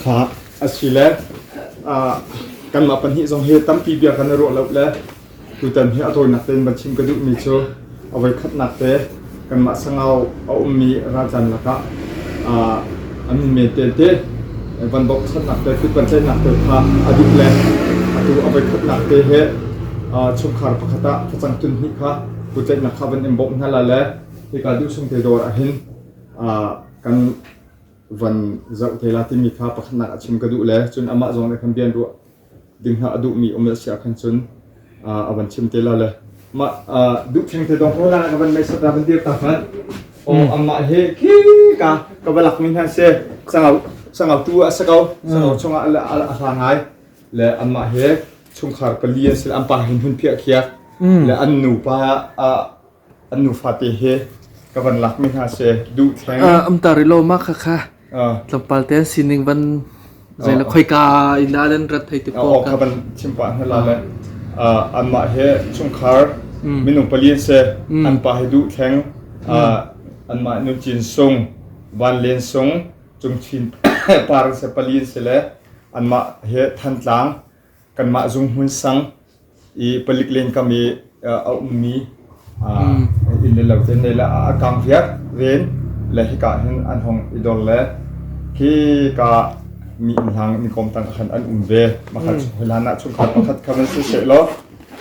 Kha asile kanmah pahnih zong hi tampi bia kan i ruah lo le tutan hi a tawinak tein van chim ka duhmi cu a voi khatnak te kanmah sangau a ummi ralcaan lakah an um men te te van boksannak te pitpanceihnak te kha a duh le atu a voi khatnak te he chungkhar pakhat ah facang tun hnih kha Kutceih nak kha van in bawmh hna la le hika duh chung te dawr ah hin kan van zoh te la timi kha pakhatnak a chim ka duh le cun amah zong nih khan bian ruah ding hna a duh mi um le si ah khan cun a van chim te la le mah duh theng te dong ko la ka van mei sat van dir ta fan o amah he khi ka ka va lak mi hna se sangau sangau tu a sa ko sangau chung ah a hla ngai le amah he chungkhar pali an si. An pa he hmun phiah khiak le an nupa ah an nufate he ka van lakmi hna se duh theng. Ah, amtar i lo ma kha kha Ah, tlawmpal te sining van zeila khoika in da den rat thei te ko oh, ka ka van chim pa hna la le ah, anmah he chungkhar minung pali an se an pa he duh theng ah, anmah nu cin sung van len sung chung chin par se pali an se le anmah he thantlang kanmah zung hmunsang i palik len kam i a ummi inn le lo ten le la a kang viak ven le hika hin an hong i dor le khi ka mi inn hlang mi kom tang khan an um ve makhat hoi hlan ah chungkhat pakhat khan an si se lo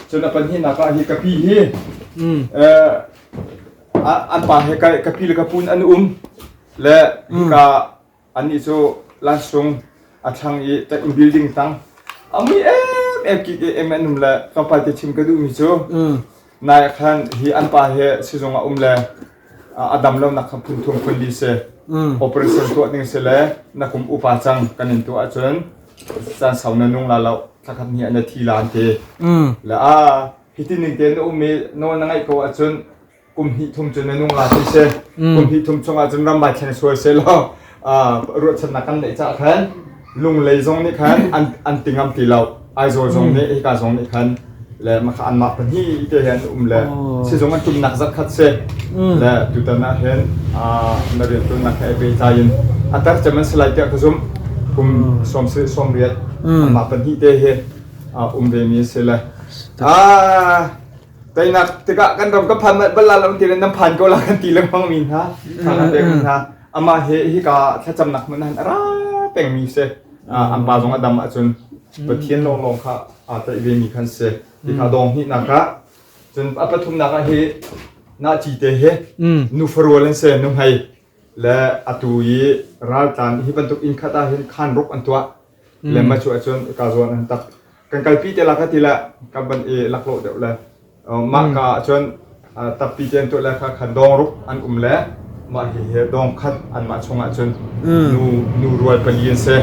cun upon hi naka hi kapi hi an pa he ka pi le ka pun an um le hika Annih cu lansung a thlang i ṭek in building tang a mui em kik em an um le tlawmpal te chim ka duhmi cu nai ah khan hi an pa hi sizung ah um le a dam lo nak kha phun thum phun li si operation tuah ding si le nakum upa cang kan in tuah ahcun caan sau na nung la lo thlakhat ni ah na thi laan te le a hiti ning te na um i nawl na ngaih ko ahcun kum hnih thum cun na nung la ti si kum hnih thum chung ahcun ram mai thleng suai se law ruahchannak kan neih cah khan lunglei zong nih khan an an tingam ti lo aizawl zong nih hika zong nih khan le maka an mah pan hi te hen um le si zong an tum nak zat khat se le tutan na hen na rian tu nak he be chain atar chaman slai te ka zum kum som se som riat ma pan hi te he um ve mi se le a Teinak tikah kan ram ka phan bal la lo tiin nan phan ko la kan ti lengmang mi hna thla kan pek mi hna amah he hika thlacamnak hmun han ara peng mi se an pa zong a dam ahcun Pathian lawnglawng kha aa taih ve mi kan si ti kha dong hnih nak ah cun a pathum nak ah hi na ci te he nu farual an se nu hmai le atu i raltlan hi bantuk inn khat ah hin khan ruk an tuah mm. le macu ahcun ka zuan an tak kan kalpi te lak ti le ka ban i lakhlo deuh le mah ka ahcun tappi ten tu le kha khan dong ruk an um le mah hi he dong khat an mah chung ahcun nu nu rual pali an se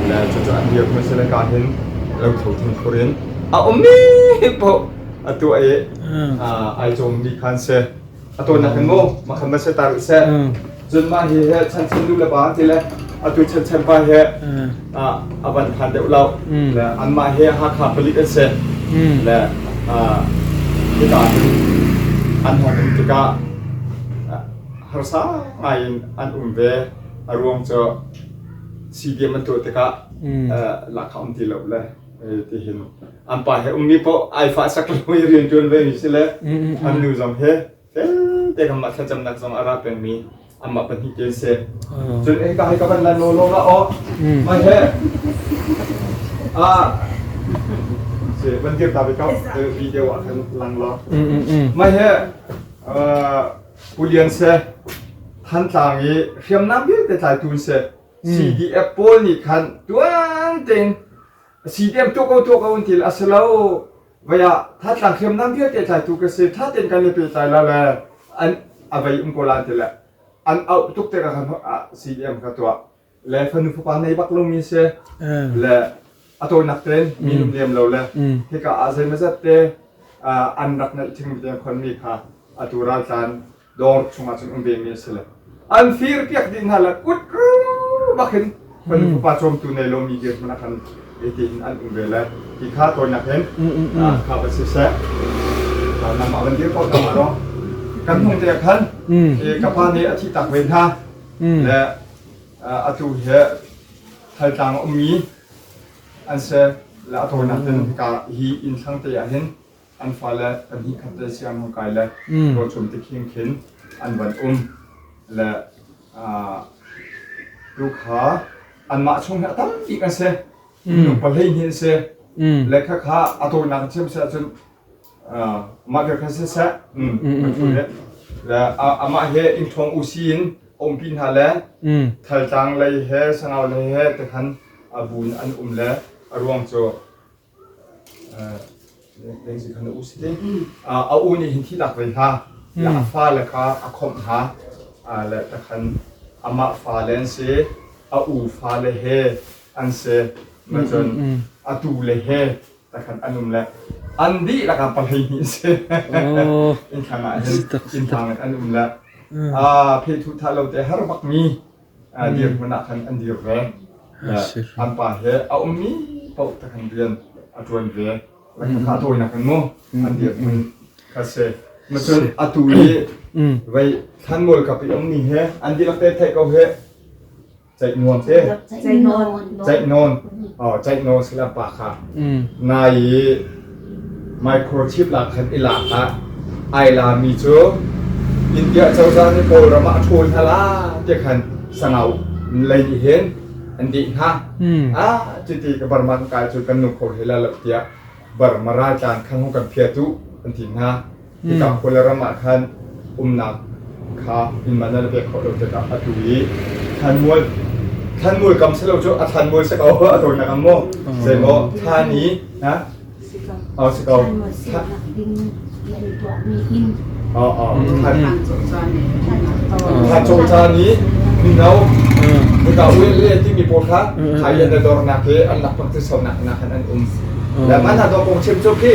le cucu an hiak ma se le ka hin lo tho thun khurin a um mi po atu ai ai chom mi khan se a tawinak hin mu makhan va set ta rih seh cun mah hi hi chanchan lu le pa ti le atu chanchan pa hi ah, a van phan deuh lo le an mah hi Hakha palik an si le ah, hita hin an hong um tikah ah, harsa ngai in an um ve a ruang cu CDM an tuah tikah eh, lakha um ti lo le eh, ti hin an pa he ummi paoh ai fahsak lo i rianṭuan vemi si le an nu zong he felte kan mah thlacamnak zong a ra pengmi anmah pahnih te an si cun ei ka hei ka van lan law law la aw mai he ah se van dir ta ve ka video ah khan lang lo mai he pulian se thantlang i hriamnam vialte tlai tun se CDF pawl nih khan tuan tein a si tiang tuah ko tuah ko an til a si lo vai ah thatlang hriamnam vialte tlaitu ka se ṭha tein kan le pehtlai la le an a vei um ko lan ti le an auh tuk te ka si diam ka tuah le fanu fapa nei bak lomi se le a tawinak ten mi lum liam lo le hika a zei mazat te an rak nalh thing mi tiang khon mi kha atu raltlan dawr chungah cun um vemi a si le an firpiak ding hna le kut bak hin fanu fapa cawmtu nei lomi dir hmanh kan ete in an um ve le ti kha tawinak hin kha va si seh nan mah van dir ko ta ro kan hung te khan ka pa nih a thi tak ve hna le a tu he thaltlang ummi an se le a tawinak tin ka hi in sang te ah hin an fale pahnih khat le Siang Nung Kai le Daw Cung Ti Khing Khin an van um le tu kha anmah chung hi a tampi kan si minung pahhlei hnih an si lekha kha a tawinak thiam si ahcun mah vialte khan siseh amah he inṭhawng usi in umpi hna le thaltlang lei he sangau lei he te khan a bun an um le a ruang cu a u nih hin thihnak vei hla le a fale kha a khawmh hna le takhan amah fale an si a u fale he an si macun a tu le he takhan an um le an dih lakah palhei hnih si in khang ah hin inn phang an um le phe thu tha lo te har bak mi dirhmun ah khan an dir ve. An pa he a ummi paoh te khan rian a ṭuan ve. A tawinak in mu an dirhmun kha si. Macun atu i vei thlan mual kap i ummi he an dihlak te theih ko he ceih nuam te ceih nawn ceih nawn si le pa kha nai i Microchip ah khan i lak hlah, ai lami cu India cozah nih Kawlram ah a ṭhawl hna la tiah khan sangau lei nih hin an dih hna. A chiti ka Burma kan kai cu kan nung kho hlei la lo tiah Burma raltlan khang hong kan phiah tuh an ti hna. Mitang kule ram ah khan umnak kha inn man nan pek khawh lo tikah a tlu i thlanmual thlanmual kam si lo cu a thlanmual si ko a dawinak ang maw zei maw thlan i oh si ko oh oh thlan cung caan i mino hika uile timi pawl kha hai an dor nak le an lak pang ti sonak nak an an um le man ha to kong chim cu khi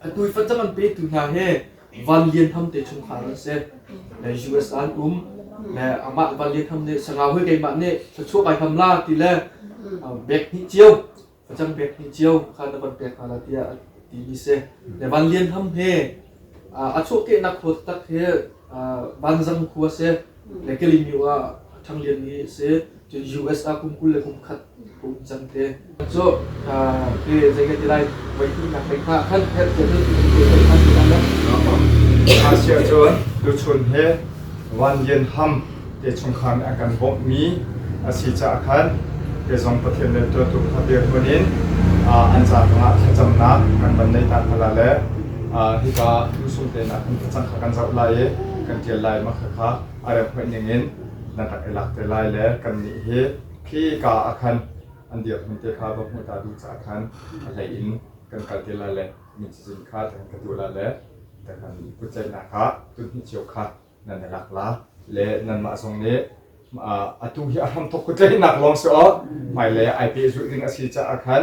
Atu i facang an petu hna hi Van Lian Ham te chungkhar an si. Le US ah an um. Le amah Van Lian Ham nih sangau hoi keimah nih thluachuah kai ham la ti le bek hnih cio facang bek hnih cio kha na van pek hna la tiah a timi si. Le Van Lian Ham he a chuahkehnak khawt tak hi Vanzang khua si. Le Kalimyo ah Thang Lian hi a si. Cun US ah kum kul le kum khat kum cang te. Cu ke zei ka ti lai voihnihnak lei hna khan herh te cun voihnihnak lei hna khan Asia cun tuchun he Van Lian Ham te chungkhar nih an kan bawmh mi a si caah khan ke zong Pathian le tuatu kha biak hmun in an ca tangah thlacamnak kan van nei tak hna le hika tusum tenak kan thlacam kha kan zoh lai i kan tial lai mak kha a rem hoih ningin nan rak i lak te lai le kannih hi khi ka ah khan an dirhmun te kha va hmuh ta duh caah khan a hlei in kan kal te lai le min cazin kha ti khan ka duh lai le ti khan kutceihnak kha tunhnih cio kha nan i lak la le nanmah zong nih atu hi a hramthok kutleihnak lawng si awk hmailei ai peh zulh ding a si caah khan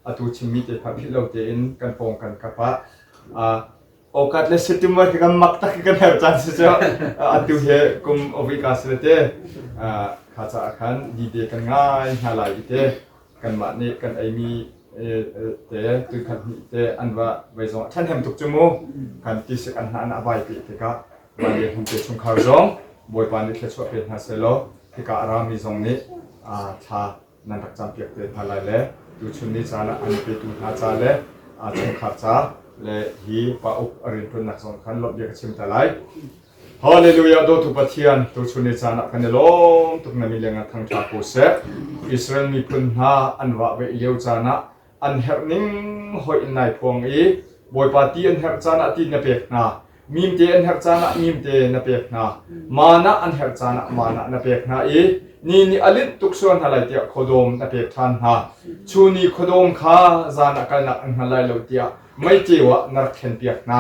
atu chimmi te kha philh lo tein kan pawng kan kap ah Awkat le sitim war khi kan mak tak khi kan her caan si cu atu he kum awik ka si le te kha caah khan dide kan ngai hna lai i te kanmah nih kan eimi te tu khat ni te an va vai zong than hem tuk chu mu kan ti se kan hna na bai pe te ka van le hum te chung khar zong boipa nih thia chuah pe hna se lo tika arami zong nih thla nan rak campiak te hna lai le tuchun ni caan ah an petu hna ca le aa chungkhar ca le hi pa uk a rianṭuannak zong khan lawmhbia ka chim ta lai. Hallelujah dawtu Pathian tuchun ni caan ah kan i lawm tuk na mi le nga thangṭha ko seh Israel miphun hna an vah ve lio caan ah an herh ning hoi in nai phuang i Bawipa ti an herh caan ah ti na pek hna, mimte an herh caan ah mimte na pek hna, maan ah an herh caan ah maan ah na pek hna i ni nih a linh tuk sual hna lai tiah khuadawm na pek ṭhan hna. Cu ni khuadawm kha zan ah kalnak an hngal lai lo tiah meiceu ah na rak thlenpiak hna.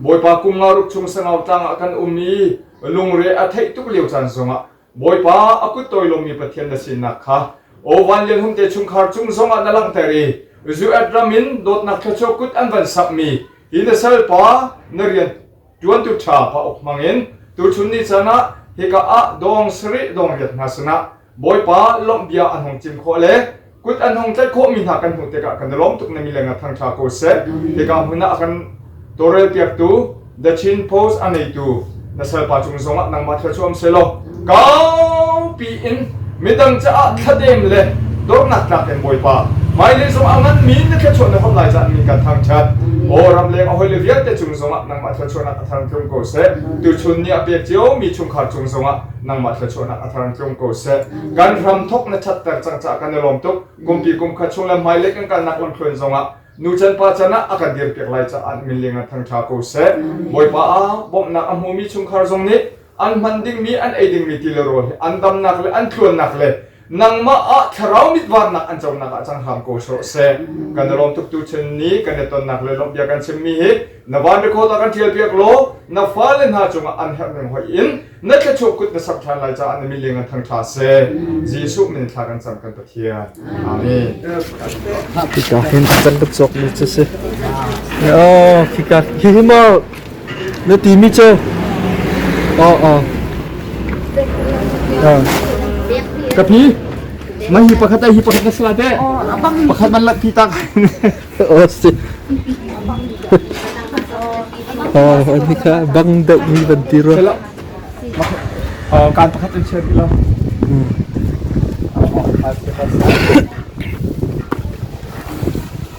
Bawipa kum nga ruk chung sangau tlang ah kan um i lungre a theih tuk lio caan zongah Bawipa a kuttawi lungmi Pathian na sinak kha aw vanlian hung te chungkhar cung zongah na langhter i Zuet ram in dawtnak thluachuah kut an van sakmi hi na salpa na rian ṭuantu ṭha pa uk hmangin tuchun ni caan ah hika ah dawng sarih dawng riat hna sinah Bawipa lawmh bia an hung chim khawh le Kut an hung tlaih khawhmi hna kan hmuh tikah kan i lawm tuk na mileng ah thangṭha ko seh. Hika hmun ah kan tawrel piaktu, The Chin Post a neitu na salpa cung zongah nangmah thil cu um se law kaupi in midang caah thladem le dornak tlak in Bawipa hmailei zong a nganmi na thluachuah na hon lai caan mi kan thangṭhat. Aw ramleng a hawile vialte cung zongah nangmah thluachuahnak a thang tlung ko seh. Tuchun ni a pek cio mi chungkhar cung zongah nangmah thluachuahnak a thar in tlung ko seh kan ram thok na ṭhatter cang caah kan i lawm tuk kumpi kum khat chung le hmailei kan kalnak lamthluan zongah nucan pa can ah a kan dirpiak lai caah min ling an thangṭha ko seh bawipa ah bawmhnak a hmumi chungkhar zong nih an hman dingmi an ei dingmi ti le rawl hi an damnak le an thluannak le nangmah ah thlarau mit vannak an conak ah cang hram ko sawh seh kan i lawm tuktu chen ni kan i tonnak le lawmh bia kan chimmi hi na van record ah kan ṭial piak law na fale hna cungah an herh ning hoih in na thluachuah kut na sak ṭhan lai caah na miling an thang ṭha seh Jesuh min thla kan cam kan Pathian amen Kita hin kan tuk cawk mi cu si. Oh, kita hi mo Na timi cu ka pi man hi pakhat ai hi pakhat ka sala te pakhat man lak pi tak oh si oh ni ka bang deuh mi ban ti ro kan pakhat in share ilo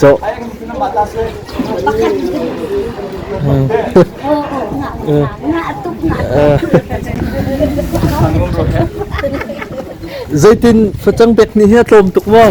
Cawh. Zeitin facang bek nih hi a tlawm tuk maw?